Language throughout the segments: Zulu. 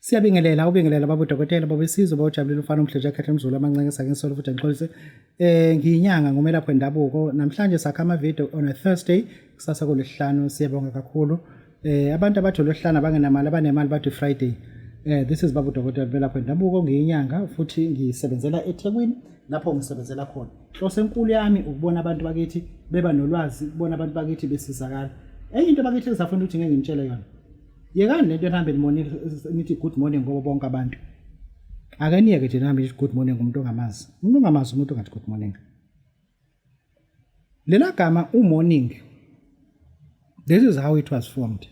Siyabingelela ubingelela babo dokotela babo isizwe bawujabulile umfana omhle nje akhethe umzulu amancenke sakhe nsolo futhi ngixolise eh ngiyinyanga ngomelaphi wendabuko namhlanje sakha ama video on a Thursday kusasa kolesihlanu siyabonga kakhulu eh abantu abathi lolesihlanu abangenamali abanemali bathi Friday eh this is babu dokotela belaphi wendabuko ngiyinyanga futhi ngisebenzela eThekwini lapho ngisebenzela khona inhloso enkulu yami ukubona abantu bakithi beba nolwazi ukubona abantu bakithi besizakala enye into bakithi ezafuna ukuthi ngeke ngitshele yona yekani lento nihambe nimone nithi good morning ngoba bonke abantu ake niyeke nje nihambe nithi good morning umuntu ongamazi umuntu ongamazi umuntu ongathi good morning lela gama umorning this is how it was formed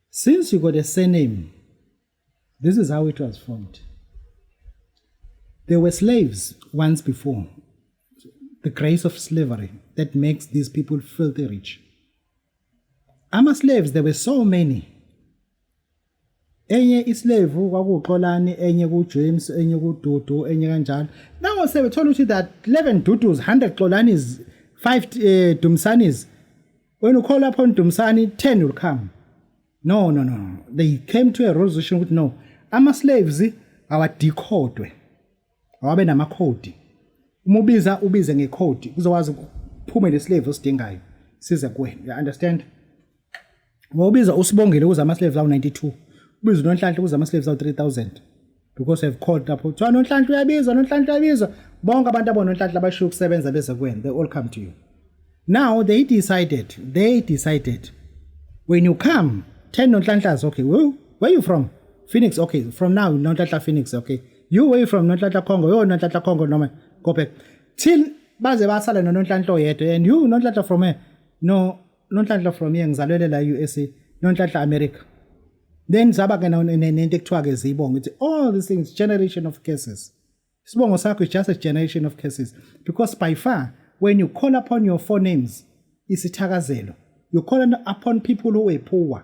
since you got a surname this is how it was formed there were slaves once before the grace of slavery that makes these people filthy rich Ama slaves there were so many. Enye islave kwakuxolani enye ku James enye ku Dudu enye kanjalo. Now se bethola ukuthi that 11 Dudus 100 xolanis 5 uh, eh, Dumsanis. When you call upon Dumsani 10 will come. No no no. They came to a resolution ukuthi no. Ama slaves awadikhodwe. Awabe namakhodi. Uma ubiza ubize ngekhodi kuzokwazi ukuphume lesilevu osidingayo size kuwena. You understand? Ngoba ubiza usibongile ukuze amaslevu lawo 92. Ubiza unonhlanhla ukuze amaslevu lawo 3000. Because I've called lapho kuthiwa nonhlanhla uyabiza nonhlanhla uyabiza. Bonke abantu abononhlanhla abashiya ukusebenza beze kuwena. They all come to you. Now they decided, they decided when you come 10 nonhlanhlas okay. Where, where you from? Phoenix okay. From now nonhlanhla Phoenix okay. you way from nonhlanhla khongo yo nonhlanhla khongo noma go back till baze basale nononhlanhla oyedwa and you nonhlanhla from here no nonhlanhla from here ngizalwele la USA nonhlanhla America then zaba ke nento ekuthiwa ke zibonga ukuthi all these things generation of curses isibongo sakho is just a generation of curses because by far when you call upon your forenames isithakazelo you call upon people who were poor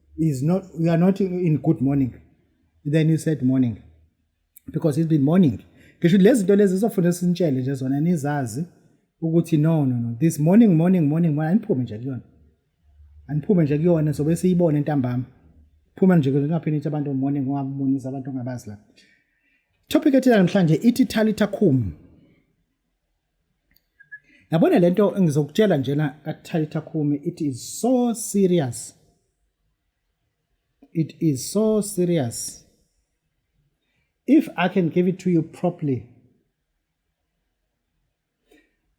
is not you are not in good morning then you said morning because it's been morning ngisho lezi zinto lezi zizofuna sintshele nje zona nizazi ukuthi no no no this morning morning morning morning aniphume nje kuyona aniphume nje kuyona sobe siyibone ntambama phuma nje kungaphini ithi abantu morning ungabonisa abantu ongabazi la topic ethina namhlanje ithi thalitha khum yabona lento engizokutshela njena kaThaitha Khumi it is so serious it is so serious if i can give it to you properly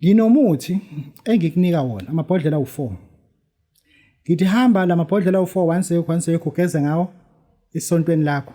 nginomuthi engikunika wona amabhodlela u4 ngithi hamba lamabhodlela u4 once yekho once yekho ugeze ngawo isontweni lakho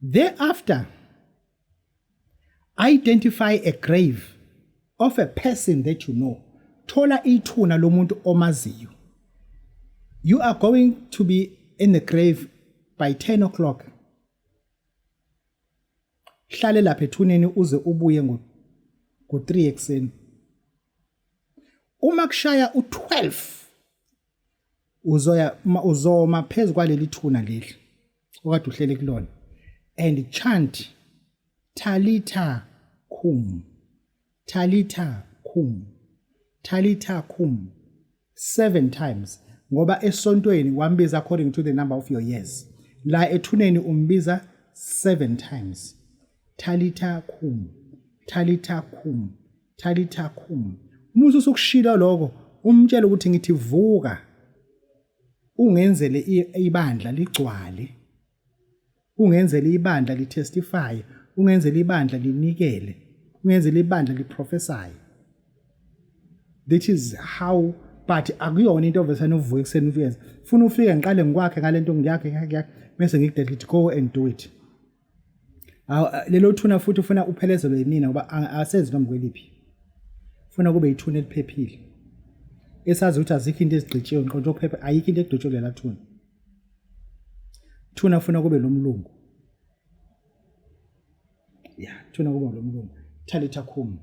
Thereafter, identify a grave of a person that you know. Thola ithuna lomuntu omaziyo. You are going to be in the grave by 10 o'clock. Hlale lapha ethuneni uze ubuye ngo ngo 3 ekseni. Uma kushaya u12 uzoya uzoma phezu kwaleli thuna leli okade uhlele kulona and chant talitha khum talitha khum talitha khum seven times ngoba esontweni wambiza according to the number of your years la ethuneni umbiza seven times Talitha kum, Talitha kum, Talitha kum. Uma usukushilo lokho, umtshela ukuthi ngithi vuka. Ungenzele ibandla ligcwale. Ungenzele ibandla litestify, ungenzele ibandla linikele, ungenzele ibandla liprofesaye. That is how but akuyona into ovesane uvuke ekuseni uyenze. Funa ufike ngiqale ngikwakhe ngalento ngiyakhe ngiyakhe bese ngikudedile go and do it. Awu lelo thuna futhi ufuna uphelezelwe yimina ngoba asenzi noma kweliphi. Ufuna kube yithuna eliphephile. Esazi ukuthi azikho into ezigqitshiwe nqonto okuphepha ayikho into egqitshwe lela thuna. Thuna ufuna kube lomlungu. Ya, thuna kube lomlungu. Thalitha khumi.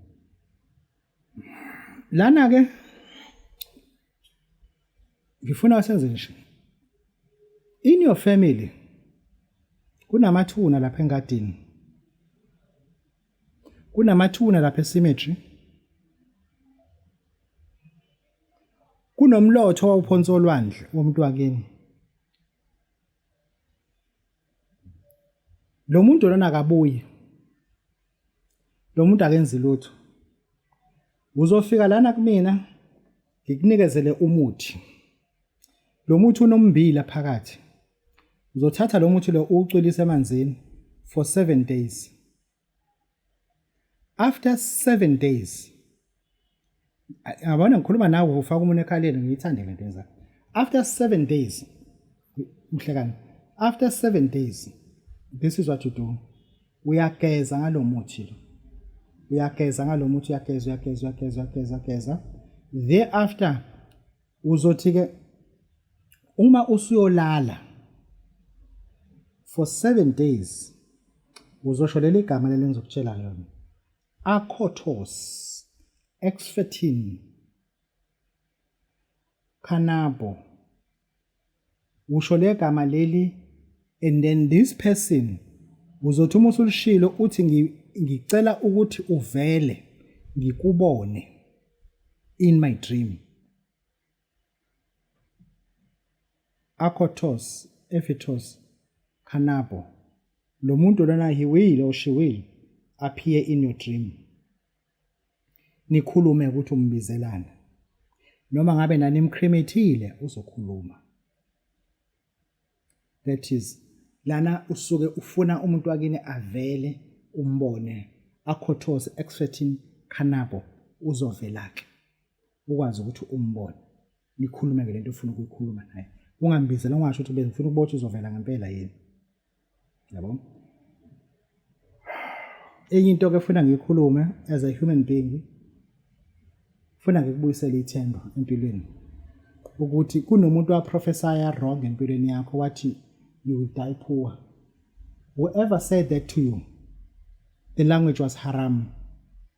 lana ke ngifuna senze nje in your family kunamathuna lapha engadini kunamathuna lapha esimetri kunomlotho wawuphonsa olwandle womuntu wakini lo muntu lona akabuye lo muntu akenzi lutho uzofika lana kumina ngikunikezele umuthi lo muthi unombila phakathi uzothatha lo muthi lo uwucwilise emanzini for 7 days after seven days yabona ngikhuluma nawe ufaka umuntu ekhaleni ngiyithande le nto yenza after seven days mhlekani after seven days this is what you do uyageza ngalo muthi lo uyageza ngalo muthi uyageza uyageza uyageza uyageza uyageza thereafter uzothi-ke uma usuyolala for seven days uzosho leli gama leli ngizokutshela yona akhothos exfetin canabo usho legama leli and then this person uzothi uma usulishilo uthi ngicela ukuthi uvele ngikubone in my dream akhothos ephetos khanabo lo muntu lona hiwile oshiwile appear in your dream Nikhulume ukuthi umbizelani. Noma ngabe nanimkrimethile uzokhuluma. That is lana usuke ufuna umuntu wakini avele umbone akhothoze exfethini khanabo uzovelake ukwazi ukuthi umbone nikhulume ngelento ofuna ukuyikhuluma naye ungambizela ungasho ukuthi bengifuna ukubotha uzovela ngempela yini yabo enye into ke funa ngikhulume as a human being funa ngikubuyisele ithemba empilweni ukuthi kunomuntu waprofesaya wrong empilweni yakho wathi you will die poor whoever said that to you the language was haram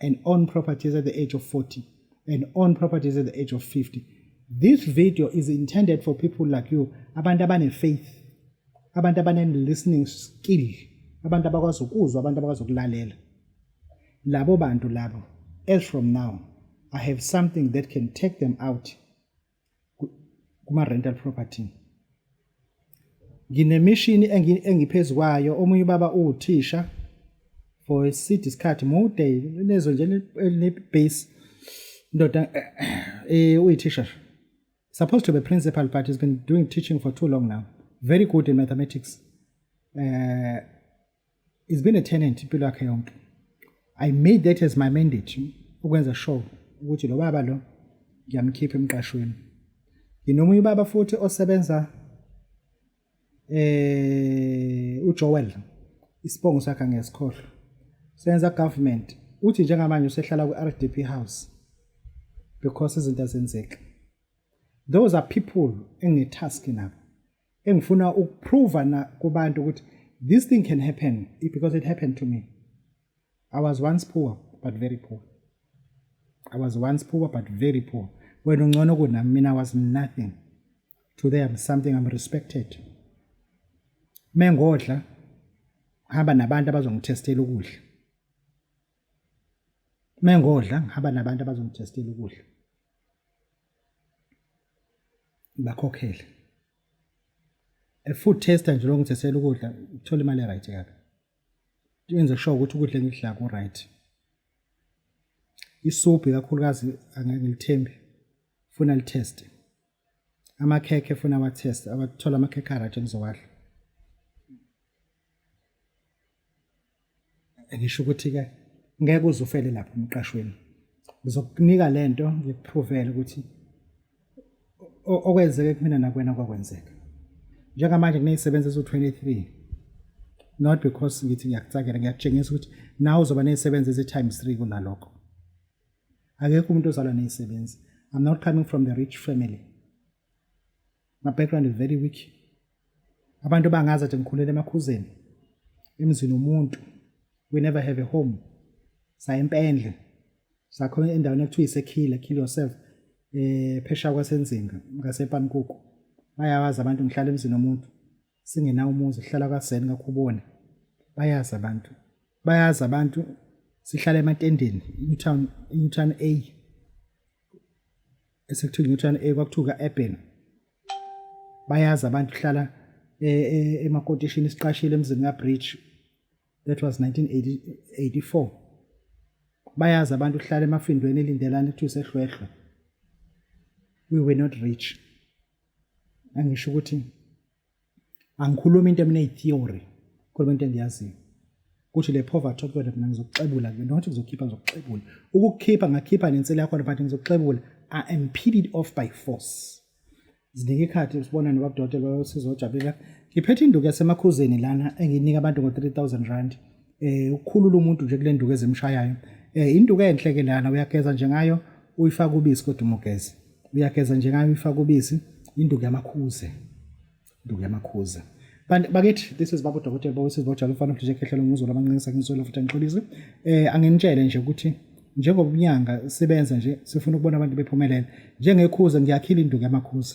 and own properties at the age of 40 and own properties at the age of 50. This video is intended for people like you, abantu abane faith, abantu abane listening skill, abantu abakwazi ukuzwa, abantu abakwazi ukulalela. Labo bantu labo, as from now, I have something that can take them out kuma-rental property nginemishini engiphezu kwayo omunye ubaba uwuthisha for iside isikhathi mude lezo nje ne-base ndoda eh uyithisha supposed to be principal but he's been doing teaching for too long now very good in mathematics uh, He's been a tenant impilo yakhe yonke. I made that as my mandate ukwenza sure ukuthi lo baba lo ngiyamkhipha emqashweni. Nginomunye ubaba futhi osebenza eh uJoel isibongo sakhe ngesikhohlo. Senza government uthi njengamanje usehlala ku-RDP house because izinto azenzeki those are people engitask nabo engifuna ukuprova na kubantu ukuthi this thing can happen because it happened to me i was once poor but very poor i was once poor but very poor wena ungcono kunami mina i was nothing today i'm something i'm respected mengodla hamba nabantu abazongithestela ukudla mengodla ngihamba nabantu abazongithestela ukudla ngibakhokhele e-food tester nje lokho ngithethela ukudla ngithola imali e-right kabi yenze sure ukuthi ukudla engikudla ku-right isuphu ikakhulukazi angeke ngilithembi funa litheste amakhekhe funa awatheste abathola amakhekhe a-right engizowadla ngisho ukuthi ke ngeke uzufele lapho emqashweni ngizokunika lento ngikuphrovele ukuthi okwenzeke kumina nakwena kwakwenzeka njengamanje kunezisebenzi eziwu-23 not because ngithi ngiyakucakela ngiyakutshengisa ukuthi nawe uzoba nezisebenzi ezi-times three kunalokho akekho umuntu ozalwa nezisebenzi i'm not coming from the rich family My background is very weak. Abantu bangazi athi ngikhulele emakhuzeni. Emzini womuntu. We never have a home. Sa empendle. Sakhona endaweni ekuthiwa isekhila, kill yourself. Eh phesha kwasenzinga ngasePamkuku. Bayawazi abantu ngihlala emzini womuntu. singenawo umuzi sihlala kaseni kakhubona bayazi abantu bayazi abantu sihlala ematendeni newton newton a esekuthiwa newton a kwakuthiwa ka-eben bayazi abantu hlala e, e, emakotishini siqashile emzini kabridge that was 1984 bayazi abantu hlala emafindweni elindelana kuthiwa sehlwehlwe we were not rich angisho ukuthi angikhulumi into emine theory khuluma into engiyaziyo kuthi le poverty okuyona mina ngizokuxebula kuyona not ngizokhipha ngizokuxebula ukukhipha ngakhipha nensela yakho but ngizokuxebula i am peeled off by force zinika ikhathi usibona nobabudokotela bayosiza ojabula ngiphethe induku yasemakhuzeni lana engiyinika abantu ngo-3000 rand eh ukukhulula umuntu nje kule nduku ezimshayayo eh induku enhle ke lana uyageza nje ngayo uyifaka ubisi kodwa umugeze uyageza nje ngayo uyifaka ubisi induku yamakhuze induku yamakhuze Kanti bakithi this is baba udokotela bowesizwe bojalo mfana uhlije khehlela umuzwa lamancinisa ngizwela futhi angixolise. Eh anginitshele nje ukuthi njengoba unyanga sibenza nje sifuna ukubona abantu bephumelela. Njengekhuze ngiyakhila induku yamakhuze.